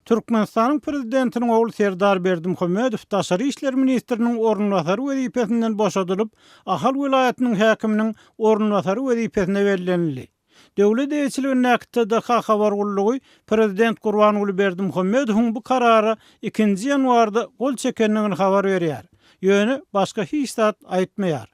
Türkmenistanyň Prezidentiniň ogly Serdar Berdimuhamedow daşary işler ministriniň orunbasary wezipesinden boşadylyp, Ahal welaýatynyň häkiminiň orunbasary wezipesine bellenildi. Döwlet eýeçiligindäki TDH habar gullugy prezident Gurbanguly Berdimuhamedowyň bu karara ikinji ýanwarda gol çekendigini habar berýär, ýöne başga hiç zat aýtmaýar.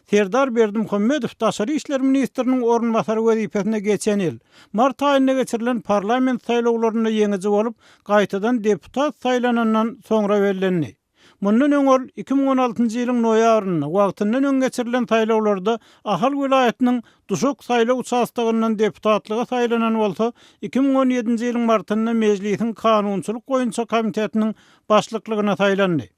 Serdar Berdimuhamedow daşary işler ministriniň orunbasary wezipesine geçen ýyl, mart aýynda geçirilen parlament saýlawlarynda ýeňiji bolup, gaýtadan deputat saýlanandan soňra bellendi. Mundan öň ol iki müň on altynjy ýylyň noýabrynda wagtyndan öň geçirilen saýlawlarda Ahal welaýatynyň Duşak saýlaw uçastogyndan deputatlyga saýlanan bolsa, iki müň on ýedinji ýylyň martynda Mejlisiň kanunçylyk boýunça komitetiniň başlyklygyna saýlandy.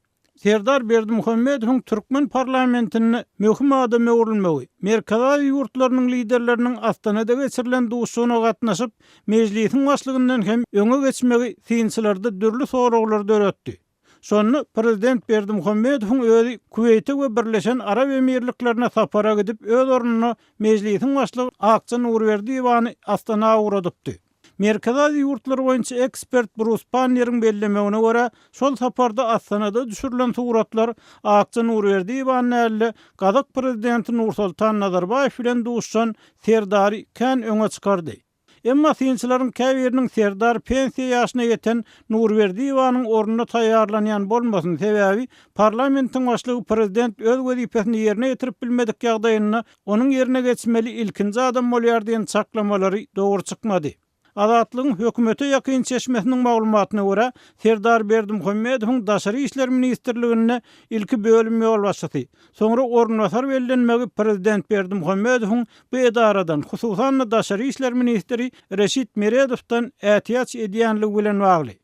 Serdar Berdimuhamedowyň türkmen parlamentinde möhüm adama öwrülmegi, Merkezi Aziýa ýurtlarynyň liderleriniň Astanada geçirilen duşuşygyna gatnaşyp, mejlisiň başlygyndan hem öňe geçmegi synçylarda dürli soraglary döretdi. Şonda prezident Berdimuhamedowyň özi Kuweýte we Birleşen Arap Emirliklerine sapara gidip, öz ornuna mejlisiň başlygy Akja Nurberdiýewany Astana ugradypdy. Merkezi Aziýa ýurtlary boýunça ekspert Brus Panneriň bellemegine görä, şol saparda Astanada düşürilen suratlar Akja Nurberdiýewa näldä gazak prezidenti Nursoltan Nazarbaýew bilen duşuşan Serdary kän öňe çykardy. Emma synçylaryň käbiriniň Serdar pensiýa ýaşyna ýeten Nurberdiýewanyň ornuna taýýarlanýan bolmasyn, sebäbi parlamentiň başlygy prezident öz wezipesini ýerine ýetirip bilmedik ýagdaýynda Onuň ýerine geçmeli ilkinji adam bolýar diýen çaklamalary dogry çykmady. Azatlygyň hökümete ýakyn çeşmesiniň maglumatyna görä, Serdar Berdimuhamedowyň Daşary işler ministrliginde ilki bölüm ýolbaşçysy, soňra orunbasar bellenmegi prezident Berdimuhamedowyň bu edaradan, hususan-da, daşary işler ministri Reşit Meredowdan ätiýaç edýänligi bilen bagly.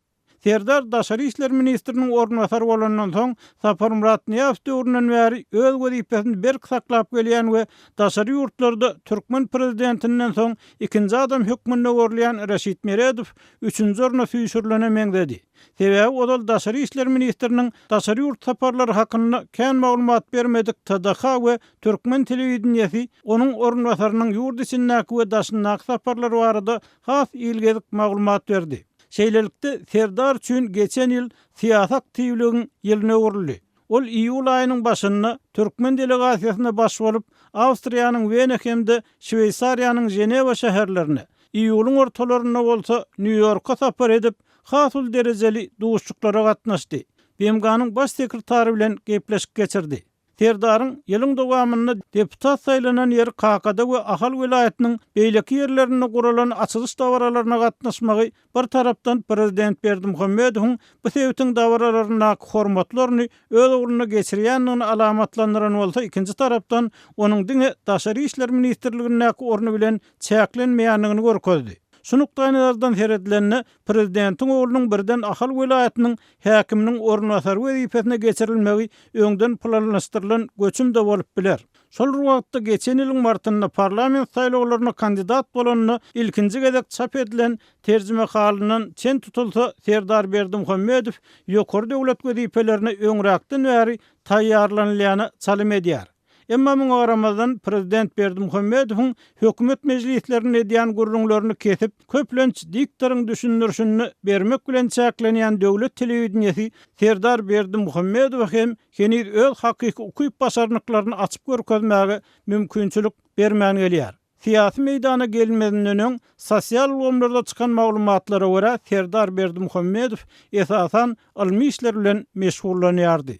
Serdar daşary işler ministriniň orunbasary bolandan soň, Saparmyrat Nyýazow döwründen bäri öz wezipesini berk saklap gelýän we daşary ýurtlarda türkmen prezidentinden soň ikinji adam hökmünde görülýän Reşit Meredow üçünji orna süýşürilene meňzedi. Sebäbi ozal daşary işler ministriniň daşary ýurt saparlary hakynda kän maglumat bermedik TDH we türkmen telewideniýesi onuň orunbasarynyň ýurt içindäki we daşyndaky saparlary barada has ilgezik maglumat berdi. Şeýlelikde, Serdar üçin geçen ýyl syýasy aktiwligiň ýylyna öwrüldi. Ol iýul aýynyň başynda türkmen delegasiýasyna baş bolup, Awstriýanyň Wena hem-de Şweýsariýanyň Ženewa şäherlerine, iýulyň ortalarynda bolsa Nýu-Ýorka sapar edip, has uly derejeli duşuşyklara gatnaşdy, BMG-niň Baş sekretary bilen gepleşik geçirdi. Serdaryň ýylyň dowamynda deputat saýlanan ýeri Kakada we Ahal welaýatynyň beýleki ýerlerinde guralan açylyş dabaralaryna gatnaşmagy bir tarapdan prezident Berdimuhamedowyň bu sebitiň dabaralaryndaky hormatly orny öz ugrunda geçirýändigini alamatlandyran bolsa ikinji tarapdan onuň diňe Daşary işler ministrligindäki orny bilen çäklenmeýändigini görkezdi. Şu nukdaýnazardan seredilende prezidentiň oglunyň birden Ahal welaýatynyň häkiminiň orunbasary wezipesine geçirilmegi öňden planlaşdyrylan göçüm-de bolup biler. Şol bir wagtda, geçen ýylyň martynda parlament saýlawlaryna kandidat bolanda ilkinji gezek çap edilen terjimehalyndan çen tutulsa, Serdar Berdimuhamedow ýokary döwlet wezipelerine öňräkden bäri taýýarlanylyana çalym edýär. Emma muňa garamazdan, prezident Berdimuhamedowyň hökümet mejlislerinde edýän gürrüňlerini kesip, köplenç diktoryň düşündirişini bermek bilen çäklenýän döwlet telewideniýesi Serdar Berdimuhamedowa hem heniz öz hakyky ukyp-başarnyklaryny açyp görkezmäge mümkinçilik bermän gelýär. Syýasy meýdana gelinmezinden öň, sosial ulgamlarda çykan maglumatlara görä, Serdar Berdimuhamedow, esasan, ylmy işler bilen meşgullanýardy.